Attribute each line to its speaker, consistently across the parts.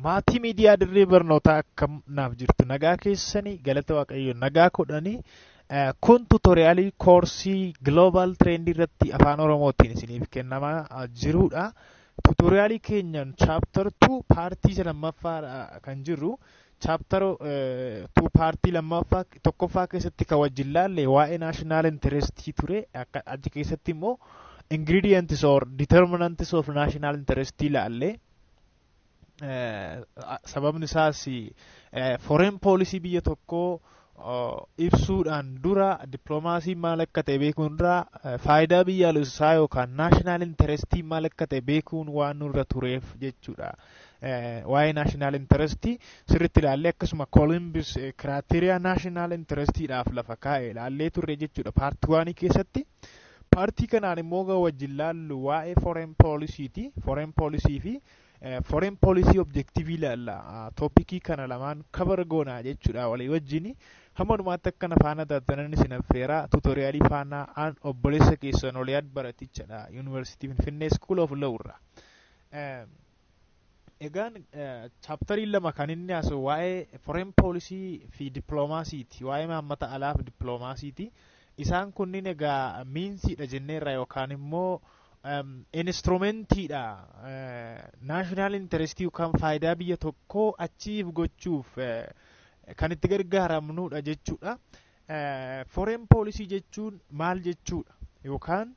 Speaker 1: Maatii miidiyaa dirree barnootaa akkam naaf jirtu nagaa keessanii galata waaqayyo nagaa kudhanii eh, kun tutoriyaalii koorsii global trend irratti afaan oromootiin isiniif kennamaa ah, jirudha. Tutoriyaalii keenyan chapter 2 paartii isa lammaffaa ah, kan jirru Chapter two paartii lammaffaa tokkoffaa keessatti ka wajjin laalle waa'ee national interest ture akka achi keessatti immoo ingredients or determinants of national interest laalle Eh, a- sababni isaas eh, foreign policy biyya tokkoo ibsuudhaan dura dippiloomaasiin maal akka ta'e beekuun dura faayidaa biyyaalessaa yookaan naashinaal intarestii maal akka ta'e beekuun waan nurra tureef jechuudha. Waa'ee naashinaal intarestii sirriitti ilaallee akkasuma koolimbis kiraateriyaa naashinaal intarestiidhaaf lafa kaa'e ilaallee turre jechuudha paartii waanii keessatti. Paartii kanaan immoo wajjin laallu waa'ee foreign policy ti. Foreign policy fi Foreign policy objective ilaalla. Toopikii kana lamaan kabar goona jechuudha walii wajjin. Hamma dhumaatti akka na faana taatanan isin affeera. Tuutoriyaalii faana aan obboleessa keessan Oliyaad Baratichadha. Yuunivarsiitii Finfinnee School of Law irraa. Egaan chaaptariin lama kan inni haasa'u waa'ee foreign policy fi dippiloomaasiiti. Waa'ee maammata alaa fi dippiloomaasiiti. Isaan kunniin egaa miinsiidha jenneerra yookaan immoo Instrumentiidha. Naashinaal intarestii yookaan faayidaa biyya tokkoo achiif gochuuf kan itti gargaaramnudha jechuudha. Foreign policy jechuun maal jechuudha? Yookaan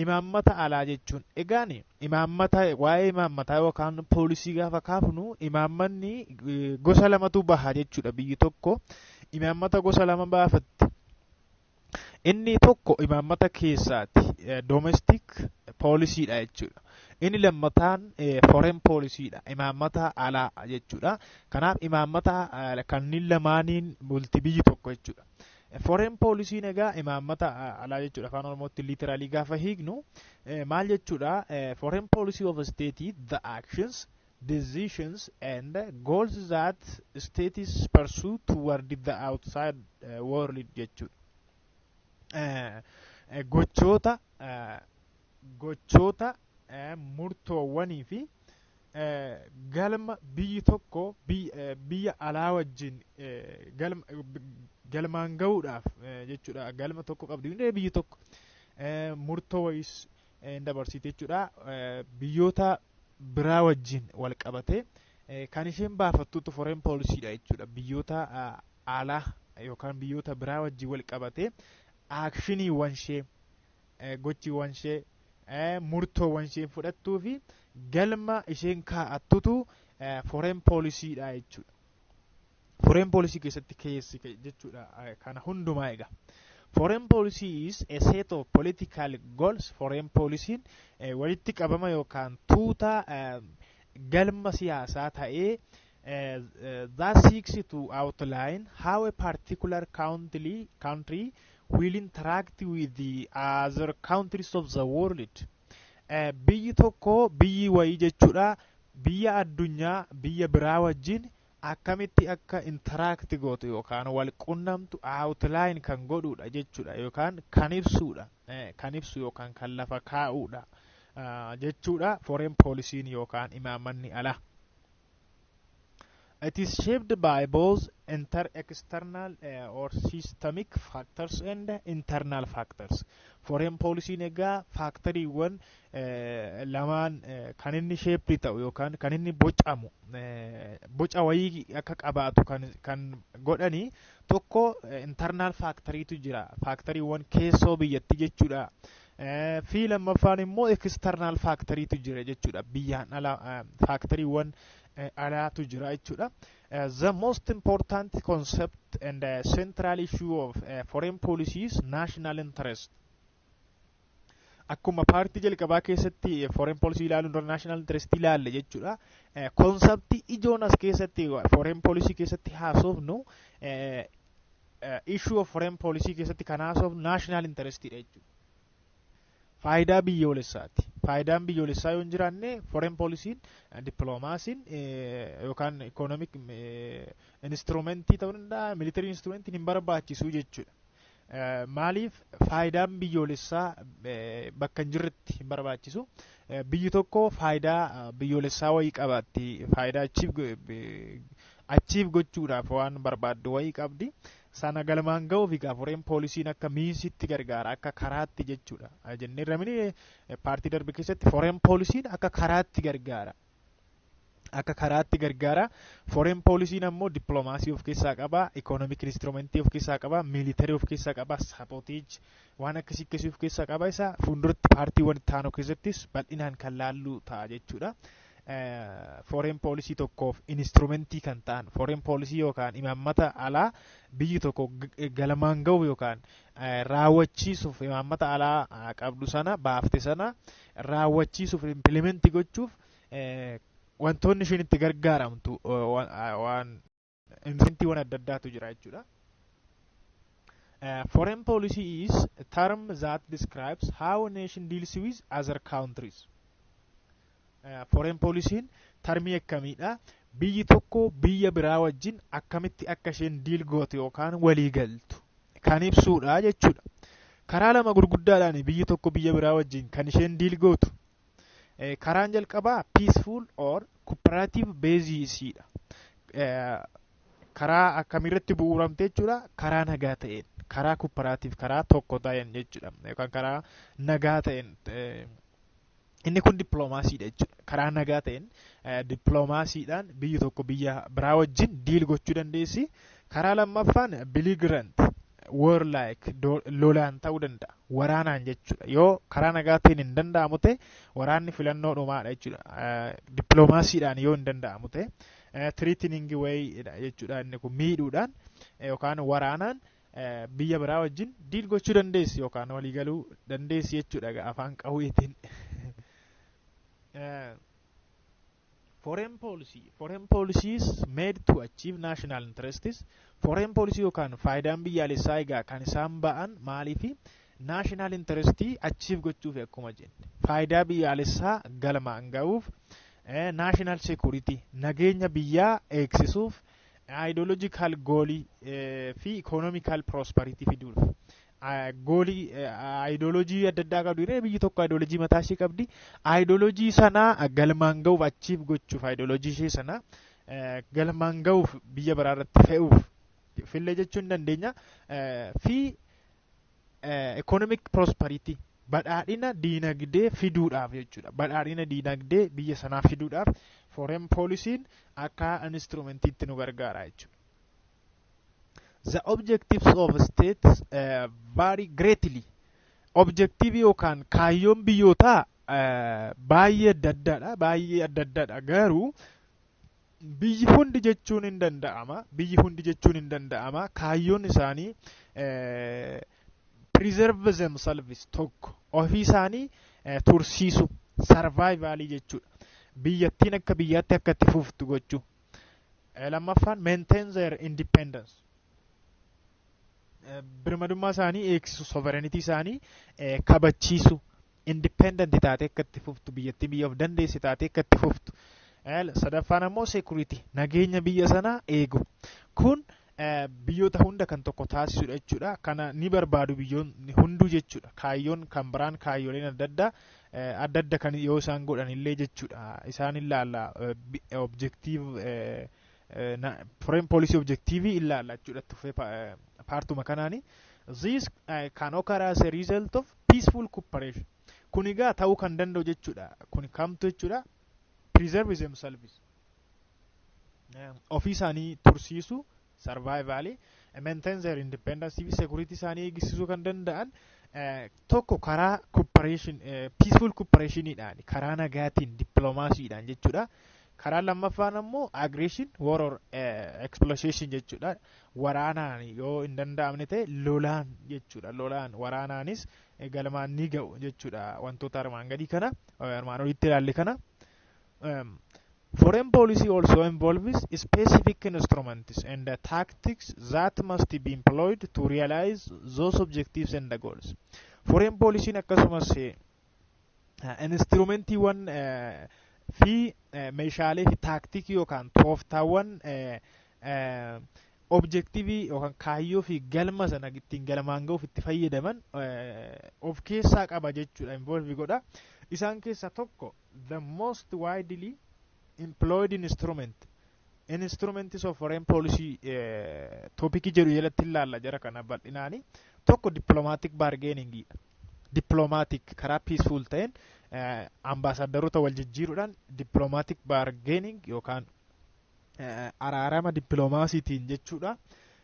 Speaker 1: imaammata alaa jechuun egaan imaammata waa'ee imaammataa yookaan poolisii gaafa kaafnu imaammanni gosa lamatu baha jechuudha biyyi tokko imaammata gosa lama baafatti Inni tokko imaammata keessaati. Domestic poolisiidha jechuudha. Inni lammataan foreign poolisiidha. Imaammata alaa jechuudha. Kanaaf imaammata kanneen lamaaniin bulti biyyi tokko jechuudha. Foreign poolisiin egaa imaammata alaa jechuudha. Afaan Oromootti literally gaafa hiiknu maal jechuudha? Foreign policy of a state is the actions decisions and goals that states pursue toward the outside uh, world jechuudha. Eh, eh, Gochoota eh, gochoota eh, murtoowwanii fi eh, galma biyyi tokko biy- eh, biyya alaa wajjin eh, galma- eh, b- galmaan ga'uudhaaf eh, jechuudha galma tokko qabdi hundee biyyi tokko eh, murtoo wayiis hin dabarsiitu jechuudha. Biyyoota biraa wajjin wal qabatee kan isheen baafattutu foreign policy dha jechuudha. Biyyoota alaa yookaan biyyoota biraa wajjin wal qabatee aakshiniiwwan ishee gochiiwwan ishee murtoowwan isheen fudhattuu fi galma isheen kaa'attutu foreign policy dha jechuudha. Foreign policy keessatti keessi jechuudha kana hundumaa egaa. Foreign policy is a set of political goals. Foreign policy walitti qabama yookaan tuuta galma siyaasaa ta'ee that seeks to outline how a particular country, country will interact with the other countries of the world. Biyyi tokko biyyi wayii jechuudha biyya addunyaa biyya biraa wajjin akkamitti akka interact gootu yookaan wal qunnamtu outline kan godhuudha jechuudha yookaan kan ibsuudha kan ibsu yookaan kan lafa kaa'uudha jechuudha foreign policy yookaan imaammanni alaa. It is shaped by both inter external uh, or systemic factors and internal factors. Foreign policy egaa faaktoriiwwan lamaan kan inni sheeppii ta'u yookaan kan inni bocamu boca wayii akka qabaatu kan godhani tokko intarnaal faakteriitu jira faakteriiwwan keessoo biyyatti jechuudha. fi lammaffaan immoo ekistarnaal faakteriitu jira jechuudha biyyaan ala faakteriiwwan alaatu jira jechuudha. The most important concept and central issue of foreign policy is national interest. akkuma paartii jalqabaa keessatti foreign policy ilaaluun dura national interest ilaalle jechuudha. Konseptii ijoon as keessatti foreign policy keessatti haasofnu issue of foreign policy keessatti kan haasofnu national interest dha jechuudha. Faayidaa biyyoolessaati. Faayidaan biyyoolessaa yoo hin jiraanne foreign policy dippiloomaasiin yookaan economic instrumentii ta'uu danda'a military instrumentiin hin barbaachisu jechuudha. Maaliif faayidaan biyyoolessaa bakka hin jirretti hin barbaachisu. Biyyi tokko faayidaa biyyoolessaa wayii qabaatti. Faayidaa achiif gochuudhaaf waan barbaaddu wayii qabdi. Sana galmaan ga'uuf egaa foreen poolisiin akka miinsitti gargaara akka karaatti jechuudha. Jennee ramini paartii darbe keessatti foreen poolisiin akka karaatti gargaara. akka karaatti gargaara. Foreign poolisiin ammoo dippiloomaasii of keessaa qaba, ikoonomik instrumentii of keessaa qaba, miilitarii of keessaa qaba, saapooteej waan akkasii akkasii of keessaa qaba. Isa fuulduratti paartiiwwan itti aanu keessattis bal'inaan kan laalluu ta'a jechuudha. Foreign poolisii tokkoof instrumentii kan ta'an foreign poolisii yookaan imaammata alaa biyyi tokko galmaan ga'uuf yookaan raawwachiisuuf imaammata alaa qabdu sana baafte sana raawwachiisuuf impilimentii gochuuf wantoonni isheen itti gargaaramtu waan insintiiwwan adda addaatu jira jechuudha. Foreign policy is a term that describes how a nation deals with other countries. Foreign policy'n tarmii akkamiidha? Biyyi tokko biyya biraa wajjin akkamitti akka isheen diil gootu yookaan walii galtu kan ibsuudha jechuudha. Karaa lama gurguddaadhaan biyyi tokko biyya biraa wajjin kan isheen diil gootu. Karaan jalqabaa peaceful or cooperative basis dha. Karaa akkamiirratti bu'uuramte jechuudha. Karaa nagaa ta'een, karaa cooperative, karaa tokko ta'een jechuudha. Yookaan karaa nagaa ta'een Inni kun dippiloomaasiidha jechuudha. Karaa nagaa ta'een dippiloomaasiidhaan biyyi tokko biyya biraa wajjin diil gochuu dandeessi. Karaa lammaffaan biligirant war like lolaan ta'uu danda'a. Waraanaan jechuudha. Yoo karaa nagaa ta'een hin danda'amu ta'e waraanni filannoo dhumaadha jechuudha. Dippiloomaasiidhaan yoo hin danda'amu ta'e tiriitiniingi wayiidha jechuudha. Inni kun miidhuudhaan yookaan waraanaan biyya biraa wajjin diil gochuu dandeessi yookaan walii galuu dandeessi jechuudha afaan qawweetiin. Foreign policy. Foreign policy is made to achieve national interests. Foreign policy yookaan faayidaan biyyaalessaa egaa kan isaan ba'an maaliifi national interest achieve gochuuf akkuma jenne faayidaa biyyaalessaa galmaan ga'uuf national security nageenya biyyaa eegsisuuf ideological goolii fi economical prosperity fiduuf goolii ideologii adda addaa qabdi jedhee biyyi tokko ideologii mataa ishee qabdi ideologii sanaa galmaan ga'uuf achiif gochuuf ideologii ishee sanaa galmaan ga'uuf biyya biraa irratti fe'uuf fillee jechuu hin dandeenya fi economic prosperity badhaadhina diinagdee fiduudhaaf jechuudha. Badhaadhina diinagdee biyya sanaa fiduudhaaf foreign policy'n akka instrumentiitti nu gargaara jechuudha. The objectives of states uh, vary greatly. Objectivii yookaan kaayyoon biyyootaa uh, baay'ee adda addaadha. Baay'ee adda addaadha garuu biyyi hundi jechuun hin danda'ama biyyi hundi jechuun hin danda'ama kaayyoon isaanii preserve themselves tokko ofii isaanii tursiisu sarvaayivaalii jechuudha biyyattiin akka biyyaatti akka itti fuftu gochuu lammaffaan maintain their independence birmadummaa isaanii eegsisu sovereignty isaanii kabachiisu independent taatee akka itti fuftu biyyattiin biyya of dandeesse taatee akka itti fuftu sadaffaan ammoo security nageenya biyya sanaa eegu kun biyyoota hunda kan tokko taasisudha jechuudha kana ni barbaadu biyyoonni hunduu jechuudha kaayyoon kan biraan kaayyoleen adda addaa adda adda kan yoo isaan godhan illee jechuudha isaan ilaalla objektiiv foreign policy objektiivii ilaalla jechuudha tuffee paartuma kanaani this uh, can occur as a result of peaceful cooperation kun egaa ta'uu kan danda'u jechuudha kun kamtu jechuudha preserve themselves ofii isaanii tursiisu survival maintain their independence fi security isaanii eegsisuu kan danda'an tokko karaa cooperation peaceful cooperationidhaan karaa nagaatiin diplomaasiidhaan jechuudha Karaa lammaffaan ammoo aggression war or eh, exploitation jechuudha. Waraanaan yoo hin danda'amne ta'e lolaan jechuudha. Lolaan waraanaanis eh, galmaan ni ga'u jechuudha. Wantoota armaan gadii kana eh, armaan olitti ilaalle kana. Um, foreign policy also involves specific instruments and the tactics that must be employed to realize those objectives and the goals. Foreign policy'n akkasumas eh, instruumentiiwwan fi meeshaalee fi taaktikii yookaan tooftaawwan objektiivii yookaan kaayyoo fi galma sana ittiin galmaan ga'uuf itti fayyadaman of keessaa qaba jechuudha involve godha isaan keessaa tokko the most widely employed instrument Instruments of Foreign Policy toopikii jedhu jalatti ilaalla jara kana bal'inaani. Tokko diplomatic bargaining dha. Diplomatic karaa peaceful ta'een ambaasaaddaroota wal jijjiiruudhaan diplomatic bargaining yookaan araarama dippiloomaasiitiin jechuudha.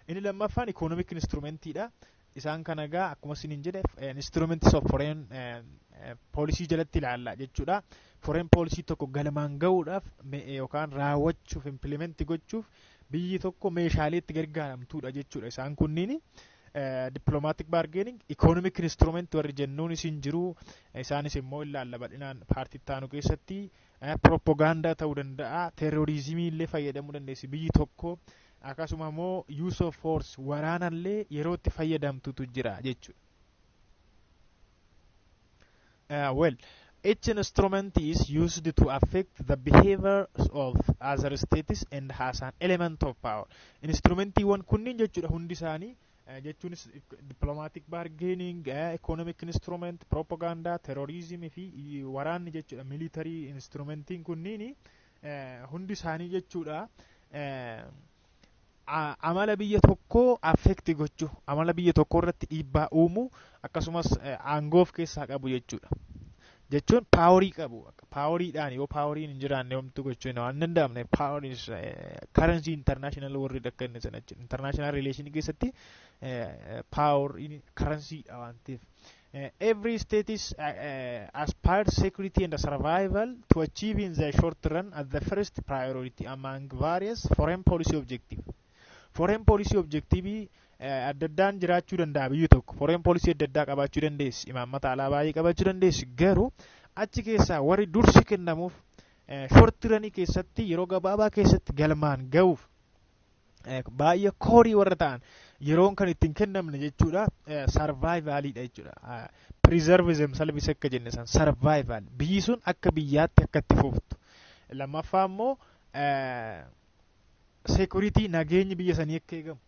Speaker 1: Inni lammaffaan ikoonomik instrumentiidha. Isaan kana egaa akkuma isiniin jedhe instruments of foreign poolisii jalatti ilaalla jechuudha. Foreign poolisii tokko galmaan ga'uudhaaf yookaan raawwachuuf implimenti gochuuf biyyi tokko meeshaalee itti gargaaramtuudha jechuudha. Isaan kunniin dippiloomaatiik baargeening ikoonomik instrument warri jennuun isin jiru isaanis immoo ilaalla bal'inaan paartii ittaanu keessatti pirooppogaandaa ta'uu danda'a teeroriizimii illee fayyadamuu dandeessi biyyi tokko akkasuma immoo use of force waraana illee yeroo itti fayyadamtutu jira jechuudha. Uh, well, each instrument is used to affect the behaviors of other states and has an element of power. Instrumentiiwwan kunniin jechuudha hundi isaanii jechuunis dippilomaatik baargeening ikoonomik instrument piroopagaandaa terooriizimii fi waraanni jechuudha miilitarii instrumentiin kunniin hundi isaanii jechuudha amala biyya tokkoo affekti gochuu amala biyya tokkoo irratti dhiibbaa uumuu akkasumas aangoo of keessaa qabu jechuudha jechuun paaworii qabu paaworiidhaan yoo paaworiin hin jiraanne homtu gochuun waan danda'amne paaworii karansii intarnaashinaal warri akka inni sana jechuudha intarnaashinaal rileeshinii keessatti paaworiin karansiidha waan ta'eef. Every state is uh, uh, aspires security and survival to achieve in the short run as the first priority among various foreign policy objectives. Foreign policy objectivii adda addaan jiraachuu danda'a biyyi tokko. Foreign policy adda addaa qabaachuu dandeessi. Imaammata alaa baay'ee qabaachuu dandeessi. Garuu achi keessaa warri dursi kennamuuf shortiranii keessatti yeroo gabaabaa keessatti galmaan ga'uuf baay'ee koorii warra ta'an yeroon kan ittiin kennamne jechuudha sarvaayivaaliidha jechuudha piriizarvizim salvis akka jenne san sarvaayivaal biyyi sun akka biyyaatti akka itti fuftu lammaffaa immoo security nageenyi biyya sanii akka eegamu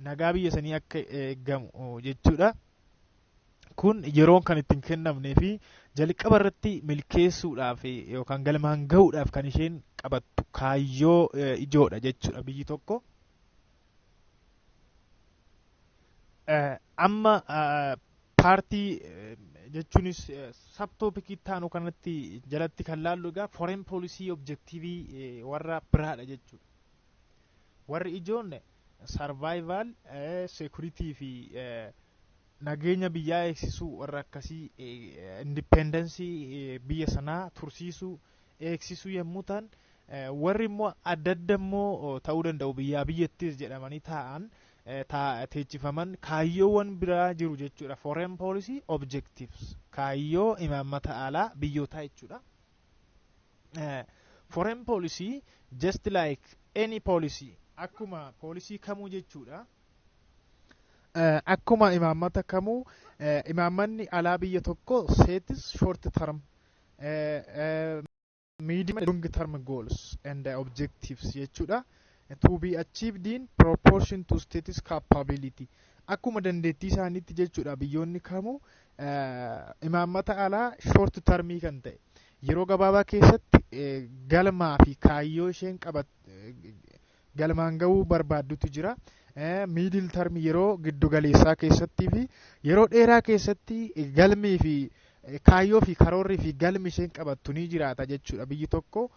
Speaker 1: nagaa biyya sanii akka eegamu jechuudha. Kun yeroon kan ittiin kennamnee fi jalqaba irratti milkeessuudhaaf yookaan galmaan gahuudhaaf kan isheen qabattu kaayyoo ijoodha jechuudha biyyi tokko. amma paartii jechuunis sabtoopikii taanu kanatti jalatti kan laallu egaa foreign policy objektiivii warra biraadha jechuudha. Warri ijoon sarvaayivaal seekuritii fi nageenya biyyaa eegsisuu warra akkasii indipendensii biyya sanaa tursiisuu eegsisuu yommuu ta'an warri immoo adda adda immoo ta'uu danda'u biyyaa biyyattis jedhamanii taa'an teechifaman kaayyoowwan biraa jiru jechuudha. Foreign policy objectives kaayyoo imaammata alaa biyyootaa jechuudha. Foreign policy just like any policy akkuma poolisii kamuu jechuudha. Akkuma imaammata kamuu imaammanni alaa biyya tokko seetis short term medium long term goals and objectives jechuudha to be achieved in proportion to status capability akkuma dandeettii isaaniitti jechuudha biyyoonni kamuu imaammata alaa short termii kan ta'e yeroo gabaabaa keessatti galmaa fi kaayyoo isheen qabat galmaan ga'uu barbaaddutu jira. Miidil tarmi yeroo giddu galeessaa keessattii fi yeroo dheeraa keessatti galmii fi kaayyoo fi karoorri fi galmi isheen qabattu ni jiraata jechuudha. Biyyi tokko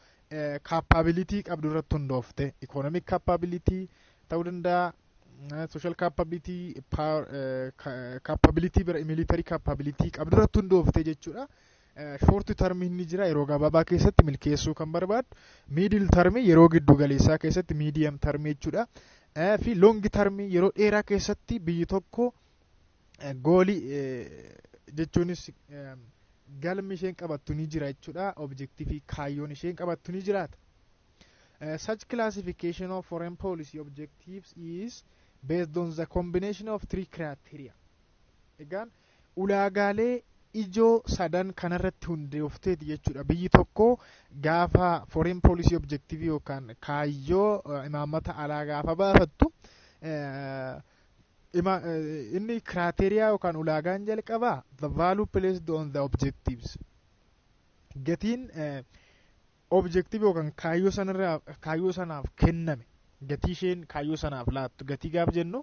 Speaker 1: kaappaabilitii qabdu irratti hundoofte. Ikoonomik kaappaabilitii ta'uu danda'a. Sooshaal kaappaabilitii, kaappaabilitii bira, miilitarii kaappaabilitii qabdu irratti hundoofte jechuudha. Short term inni jira yeroo gabaabaa keessatti milkeessuu kan barbaadu. Middle term yeroo giddu galeessaa keessatti medium term jechuudha. Fi long term yeroo dheeraa keessatti biyyi tokko goolii jechuunis galmi isheen qabattu ni jira jechuudha. Objektiivii kaayyoon isheen qabattu ni jiraata. Such classification of foreign policy objectives is based on the combination of three criteria. Egaan Ulaagaalee ijoo sadan kanarratti hundoofteeti jechuudha. Biyyi tokko gaafa foreign policy objective yookaan kaayyoo imaammata alaa gaafa baafattu inni kiraateriyaa yookaan ulaagaan jalqabaa the value placed on the objectives gatiin objective yookaan kaayyoo sanarraa kaayyoo sanaaf kenname gatii isheen kaayyoo sanaaf laattu gatii gaaf jennu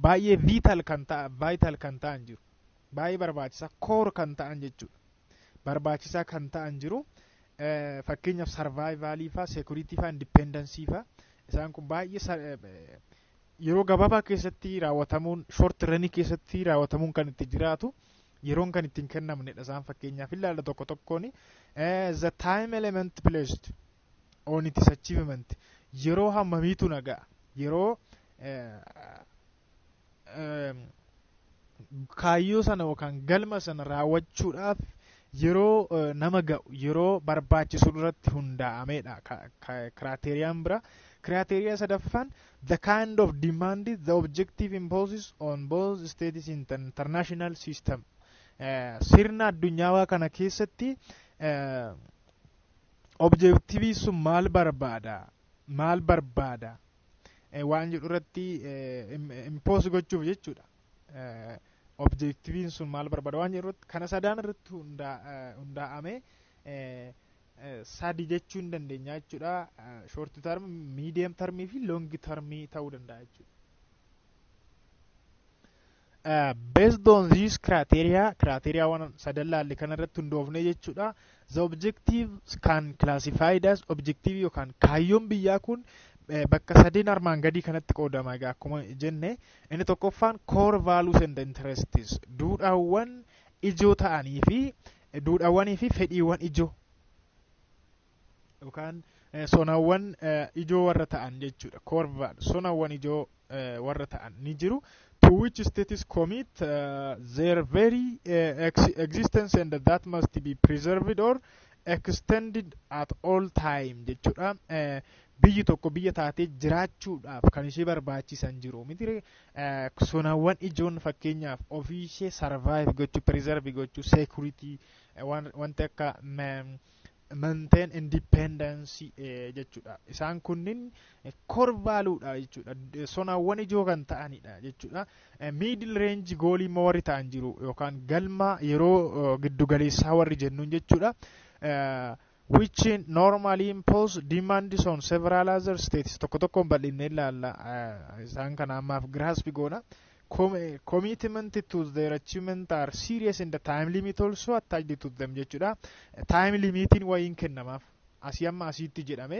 Speaker 1: baay'ee vital kan ta'a vital kan ta'an jiru baay'ee barbaachisaa core kan ta'an jechuudha barbaachisaa kan ta'an jiru eh, fakkeenyaaf sarvaayivaalii faa seekuritii faa indipeendansii faa isaan kun baay'ee sa- eh, eh, yeroo gabaabaa keessatti raawwatamuun short ranii keessatti raawwatamuun kan itti jiraatu yeroon kan ittiin kennamnedha isaan fakkeenyaaf ilaalla tokko tokkoon the time element placed on its achievement yeroo hammamiitu nagaa yeroo kaayyoo sana yookaan galma sana raawwachuudhaaf yeroo nama ga'u yeroo barbaachisu irratti hundaa'amedha kiraateeriyaan bira kiraateeriyaa sadaffaan the kind of demand the objective imposes on both states in the international system Eh, sirna addunyaawaa kana keessatti eh, objektiivii sun maal barbaada maal barbaada eh, waan jedhu irratti impoos gochuuf jechuudha Eh, objektiiviin sun maal barbaada waan jedhu irratti kana sadaan irratti hundaa- eh, hundaa'amee eh, sadi jechuu hin dandeenya jechuudha. Short term, medium term fi long term ta'uu danda'a jechuudha. Uh, based on these criteria, criteria waan sadan laalle kana irratti hundoofne jechuudha. The objective can classified as objective yookaan kaayyoon biyyaa kun eh, bakka sadeen armaan gadii kanatti qoodama egaa akkuma jenne inni tokkoffaan core values and interests duudhaawwan ijoo ta'anii fi Duudhaawwanii fi fedhiiwwan ijoo yookaan eh, sonawwan eh, ijoo warra ta'an jechuudha. Core value sonawwan ijoo eh, warra ta'an ni jiru. To which states commit eh, their very eh, ex existence and that must be preserved or extended at all time jechuudha. Eh, biyyi tokko biyya taatee jiraachuudhaaf kan ishee barbaachisan jiru miti Sonawwan ijoon fakkeenyaaf ofii ishee survive gochuu, preserve gochuu, security wanti akka maintain independence jechuudha. Isaan kunniin core value dha jechuudha. Sonawwan ijoo kan ta'anidha jechuudha. Middle range goal immoo warri ta'an jiru yookaan galma yeroo giddugaleessaa warri jennuun jechuudha. which normally impose demands on several other states tokko tokkoon bal'inne ilaalla eh, isaan kana ammaaf grasp goona Com- eh, commitment to their achievement are serious and the time limit also attached to them jechuudha time limitiin wayiin kennamaaf asii amma asiitti jedhame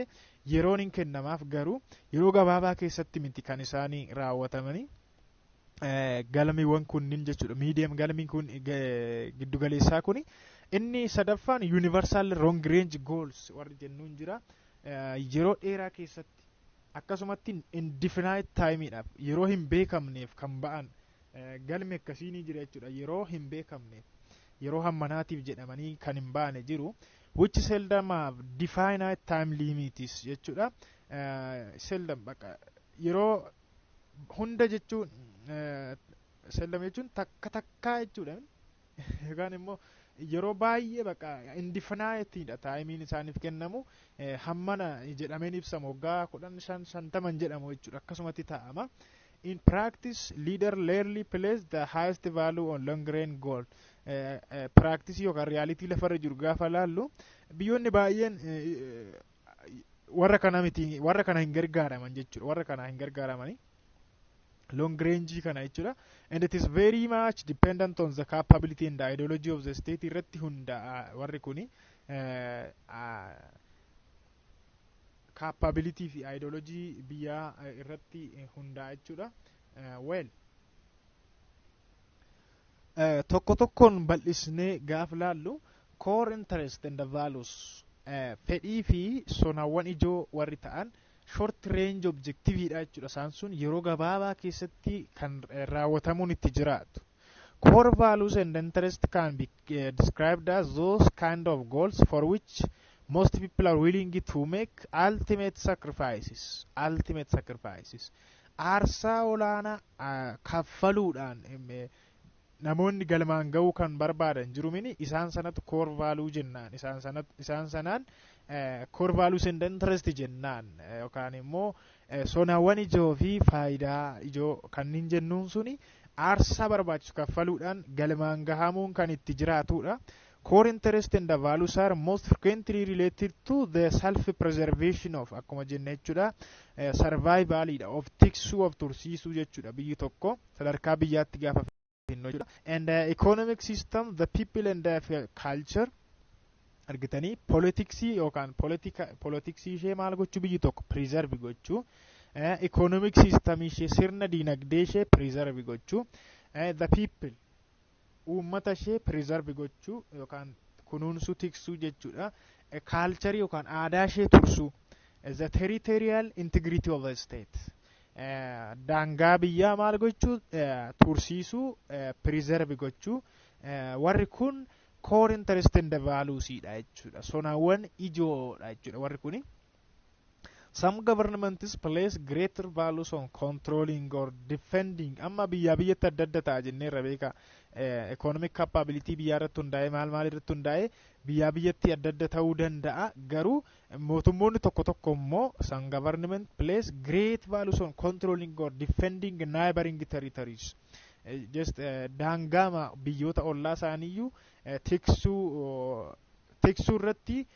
Speaker 1: yeroon hin kennamaaf garuu yeroo gabaabaa keessatti miti kan isaanii raawwatamanii galamiiwwan kunniin jechuudha miidiyam galamiin kun giddugaleessaa kun inni sadaffaan yuunivarsaal roong reenji gools warri jennuun jira yeroo dheeraa keessatti akkasumatti indifinaayit taayimiidhaaf yeroo hin beekamneef kan ba'an galmi akkasii ni jira jechuudha yeroo hin beekamneef yeroo hammanaatiif jedhamanii kan hin baane jiru which seldom have definite time limits jechuudha seldom baqa yeroo hunda jechuun seellama jechuun takka takkaa jechuudha yookaan immoo yeroo baay'ee bakka indifinaayitiidha taayimiin isaaniif kennamu hammana jedhameen ibsamu waggaa kudhan shan shantaman jedhamu jechuudha akkasumatti taa'ama. In practice, leader rarely plays the highest value on long run goal. Practice yookaan realitii lafarra jiru gaafa laallu biyyoonni baay'een warra kana miti warra kana hin gargaaraman jechuudha warra kana hin gargaaramani long range kana jechuudha and it is very much dependent on the capability and the ideology of the state irratti hundaa'a warri kuni capability fi ideology biyyaa irratti hundaa'a jechuudha well Eh, tokko tokkoon bal'isnee gaaf laallu core interest and values eh, fedhii fi sonawwan ijoo warri ta'an short range objective dha jechuudha isaan sun yeroo gabaabaa keessatti kan eh, raawwatamuun itti jiraatu core values and interest can be eh, described as those kind of goals for which most people are willing to make ultimate sacrifices ultimate sacrifices Aarsaa olaanaa ah, kaffaluudhaan em, eh, namoonni galmaan ga'uu kan barbaadan jiru mini isaan sanatti core value jennaan isaan sanatti isaan sanaan eh, core values and interest jennaan eh, yookaan immoo eh, sonawwan ijoo fi faayidaa ijoo kanneen jennuun suni aarsaa barbaachisu kaffaluudhaan galmaan gahamuun kan itti jiraatudha. Core interest and values are most frequently related to the self preservation of akkuma jenne jechuudha. Survival dha of tiksuu of tursiisuu jechuudha biyyi tokko sadarkaa biyyaatti gaafa finnu jechuudha. And uh, economic system the people and uh, culture argitanii politiksii yookaan politika politiksii ishee maal gochuu biyyi tokko preserve gochuu economic system ishee sirna diinagdee ishee preserve gochuu the people uummata ishee preserve gochuu yookaan kunuunsuu tiksuu jechuudha. A culture yookaan aadaa ishee tursuu. The territorial integrity of a state. Eh, Daangaa biyyaa maal gochuu eh, tursiisuu eh, preserve gochuu. Eh, Warri kun core interest and values dha jechuudha. Sonawwan ijoodha jechuudha warri kuni. Some governments place greater values on controlling or defending. Amma biyyaa biyyatti adda adda ta'a jenneerra beekaa. Economic capability biyyaa irratti hundaa'ee maal maal irratti hundaa'ee biyyaa biyyatti adda adda ta'uu danda'a. Garuu mootummoonni tokko tokko immoo some government place great values on controlling or defending neighboring territories. Just daangaama biyyoota ollaa isaaniiyyuu tiksuu tiksuu irratti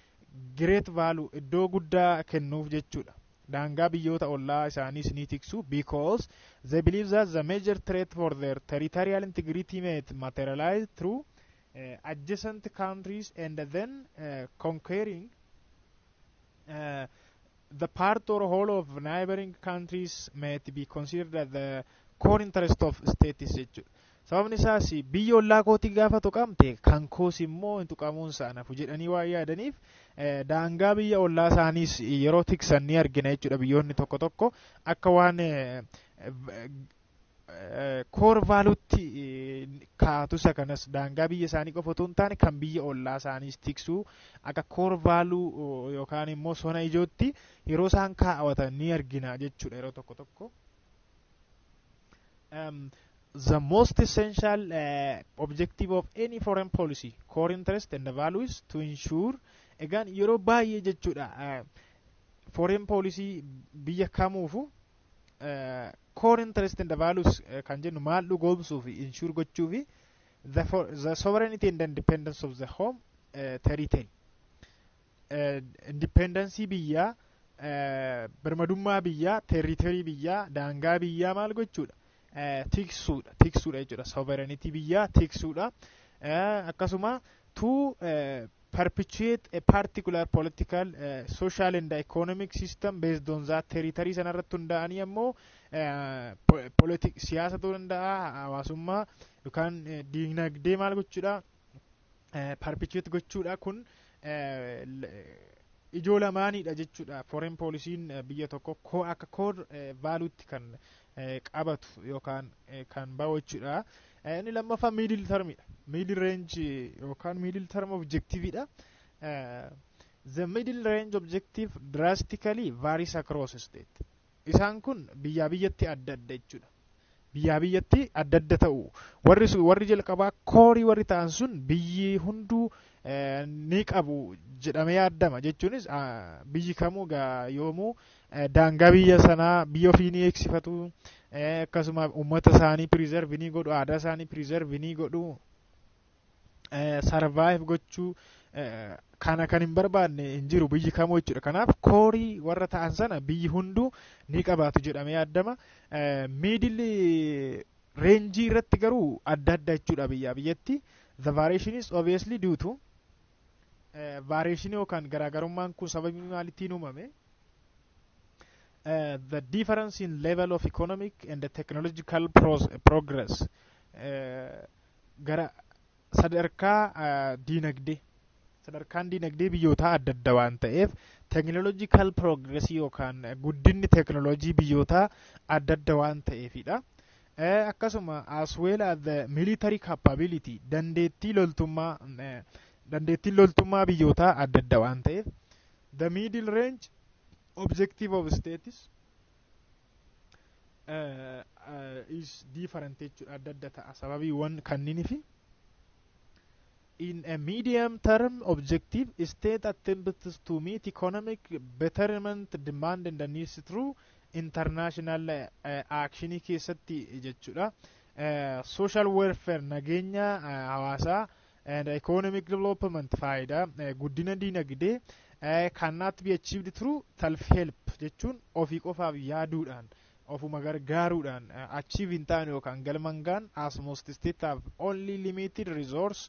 Speaker 1: great value iddoo guddaa kennuuf jechuudha. Daangaa biyyoota ollaa isaaniis ni tiksu because they believe that the major threat for their territorial integrity may materialize through uh, adjacent countries and then uh, conquering uh, the part or whole of neighboring countries may be considered as the core interest of states jechuudha. Sababni isaas biyyi ollaa kootii gaafa tuqamte kan koos immoo hin tuqamuun isaa nafu jedhanii waan yaadaniif daangaa biyya ollaa isaaniis yeroo tiksan ni argina jechuudha biyyoonni tokko tokko akka waan koor vaaluutti kaa'atu isa kanas daangaa biyya isaanii qofa otoo hin taane kan biyya ollaa isaaniis tiksuu akka koor vaaluu yookaan immoo sona ijootti yeroo isaan kaa'atan ni argina jechuudha yeroo tokko tokko. um, the most essential uh, objective of any foreign policy core interest and value is to ensure egaan yeroo baay'ee jechuudha uh, foreign policy biyya kamuufu uh, core interest and values uh, kan jennu maal dhugoomsuu fi insure gochuu fi the, for, the sovereignty and independence of the home uh, territory indipendensii biyyaa birmadummaa biyyaa teeriteerii biyyaa daangaa biyyaa maal gochuudha tiksuudha tiksuudha jechuudha sovereignty biyyaa tiksuudha akkasuma to perpetuate a particular political uh, social and economic system based on that territory sana irratti hundaa'anii ammoo siyaasa ta'uu danda'a hawaasummaa yookaan diinagdee maal gochuudha parpichuweet gochuudha kun ijoo lamaaniidha jechuudha foreign poolisiin biyya tokko koo akka koor vaaluutti kan qabatu yookaan kan ba'u jechuudha. Inni lammaffaa miidil tarmiidha. Miidil reenji yookaan miidil tarm objektiiviidha. The middle range objective drastically varies across state. Isaan kun biyyaa biyyatti adda adda jechuudha. Biyyaa biyyatti adda adda ta'u. Warri sun warri jalqabaa koorii warri ta'an sun biyyi hunduu eh, ni qabu jedhamee yaaddama jechuunis ah, biyyi kamuu gaa yoomuu eh, daangaa biyya sanaa biyya ofii ni eegsifatu eh, akkasuma uummata isaanii piriizervi ni godhu aadaa isaanii piriizervi ni godhu sarvaayiv gochuu kana kan hin barbaadne hin jiru biyyi kamuu jechuudha. Kanaaf koorii warra ta'an sana biyyi hunduu ni qabaatu jedhamee yaadama. Miidilli reenjii irratti garuu adda adda jechuudha biyyaa biyyatti. The variation is obviously due to variation yookaan garaagarummaan kun sababii maalittiin uumame. Uh, the difference in level of economic and the technological progress. Uh, gara sadarkaa diinagdee sadarkaan diinagdee biyyootaa adda adda waan ta'eef teekinooloojikaal piroogresii yookaan guddinni teekinooloojii biyyootaa adda adda waan ta'eefidha. Akkasuma as well as the military capability dandeettii loltummaa dandeettiin loltummaa biyyootaa adda adda waan ta'eef the middle range objective of states is different jechuudha adda adda ta'a sababiiwwan kanniinifi in a medium term objective state attempts to meet economic betterment demand and the needs through international uh, action keessatti jechuudha uh, social welfare nageenya uh, hawaasaa and economic development faayidaa eh, guddina diinagdee eh, cannot be achieved through self help jechuun ofii qofaaf yaaduudhaan ofuma gargaaruudhaan eh, achieve hin taane yookaan galmaan gahan as most state have only limited resource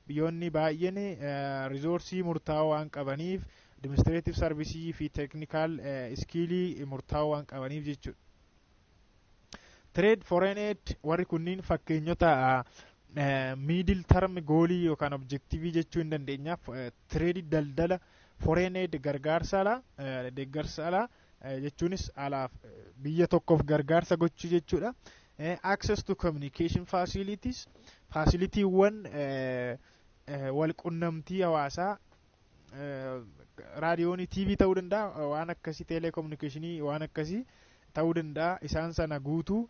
Speaker 1: biyyoonni baay'een eh, risoorsii murtaa'oo waan qabaniif administrative service fi technical eh, iskiilii murtaa'oo waan qabaniif jechuudha. Trade foreign aid warri kunniin fakkeenyota miidil tarmi goolii yookaan objektiivii jechuu hin dandeenya. Tireedii daldala foreign aid gargaarsa alaa deeggarsa alaa jechuunis alaaf biyya tokkoof gargaarsa gochuu jechuudha. Access to communication facilities faasiliitiiwwan wal qunnamtii hawaasaa raadiyoonii tiivii ta'uu danda'a waan akkasii teeleekominikeeshinii waan akkasii ta'uu danda'a isaan sana guutuu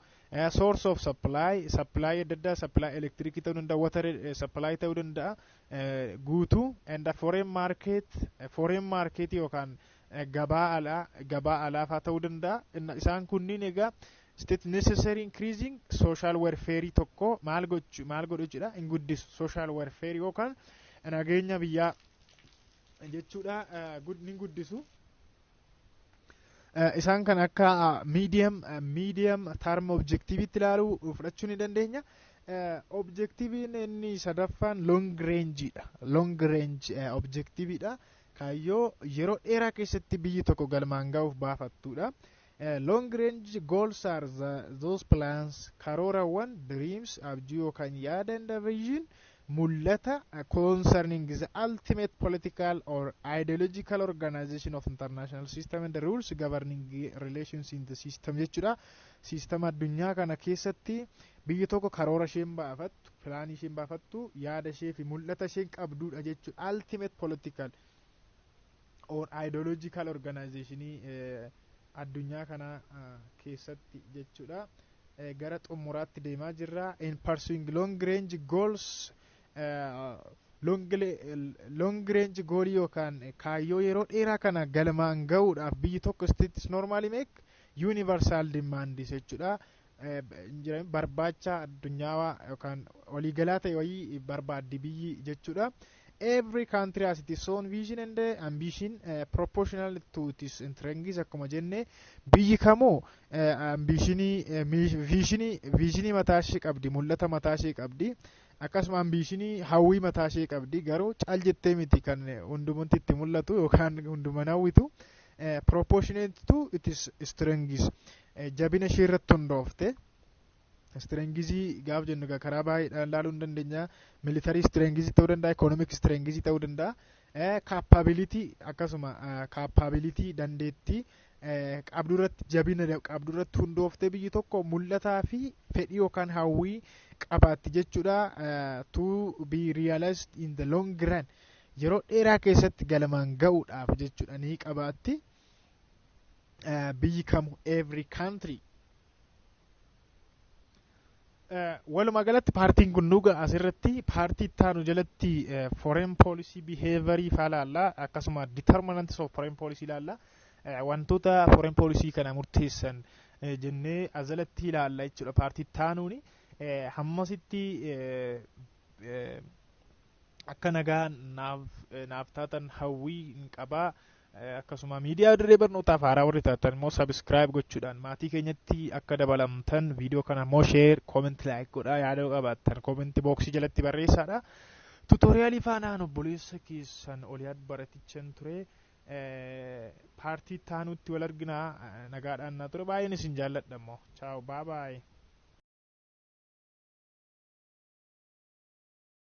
Speaker 1: source of supply supply adda addaa supply elektirikii ta'uu danda'a water supply ta'uu danda'a guutuu and foreign market foreign market yookaan gabaa alaa gabaa alaafaa ta'uu danda'a isaan kunniin egaa State necessary increasing social welfare tokko maal gochu maal godhu jechuudha hin guddisu social welfare yookaan nageenya biyyaa jechuudha eh, gud- ni guddisu. Eh, Isaan kan akka ah, medium eh, medium term objectivitti ilaalu fudhachuu ni dandeenya. Eh, Objectiviin inni sadaffaan long range dha. Long range eh, objectividha. Kaayyoo yeroo dheeraa keessatti biyyi tokko galmaan ga'uuf baafattudha. Long range goals are the, those plans, karoorawwan, dreams, abjuu yookaan yaada and vision, mul'ata concerning the ultimate political or ideological organization of international system and rules governing relations in the system jechuudha. Siistama addunyaa kana keessatti biyyi tokko karoora isheen baafattu, pilaanii isheen baafattu, yaada ishee fi mul'ata isheen qabduudha jechuudha. Ultimate political or ideological organizationii addunyaa kana keessatti jechuudha gara xumuraatti deemaa jirra in pursuing long range goals long range goolii yookaan kaayyoo yeroo dheeraa kana galmaan ga'uudhaaf biyyi tokko states normally make universal demands jechuudha barbaacha addunyaawaa yookaan waliigalaa ta'e wayii barbaaddi biyyi jechuudha. Every country has its own vision and uh, ambition uh, proportional to its strengths akkuma jenne biyyi kamuu uh, ambishinii uh, viishinii viishinii mataa ishee qabdi mul'ata mataa ishee qabdi akkasuma ambishinii hawwii mataa ishee qabdi garuu caal jettee miti kan hundumatti itti mul'atu yookaan hunduman hawwitu. proportionate to its strengths jabina ishee irratti hundoofte istirengizii gaaf jennu egaa karaa baay'eedhaan ilaaluu ni dandeenya militarii istirengizii ta'uu danda'a ikoonomik istirengizii ta'uu danda'a kaappaabilitii akkasuma kaappaabilitii dandeettii qabdu irratti jabina qabdu irratti hundooftee biyyi tokko mul'ataa fi fedhii yookaan hawwii qabaatti jechuudha to be realized in the long run yeroo dheeraa keessatti galmaan ga'uudhaaf jechuudha ni qabaatti. eh, biyyi kamu every country Eh, walumaa galatti paartiin kun nuga asirratti paartii ittaanu jalatti eh, foreign policy behavior faa laalla akkasuma determinants of foreign policy laalla Eh, wantoota foreign policy kana murteessan eh, jennee ajalatti ilaalla jechuudha paartii ittaanuuni Eh, hammasitti eh, eh, akka nagaa naaf naaf taatan hawwii hin qabaa. Eh, Akkasuma miidiyaa dirree barnootaaf haaraa warri taatan immoo sabiskiraayib gochuudhaan maatii keenyatti akka dabalamtan viidiyoo kana immoo sheer koomenti laayik godhaa yaada qabaattan koomenti booksii jalatti barreessaadha. Tuutooriyaalii faanaan obboleessa keessan oliyaad baratichan ture. Eh, Paartii itti aanutti wal arginaa eh, nagaadhaan naa ture baay'een isin jaalladha immoo. Chaaw baabaayi.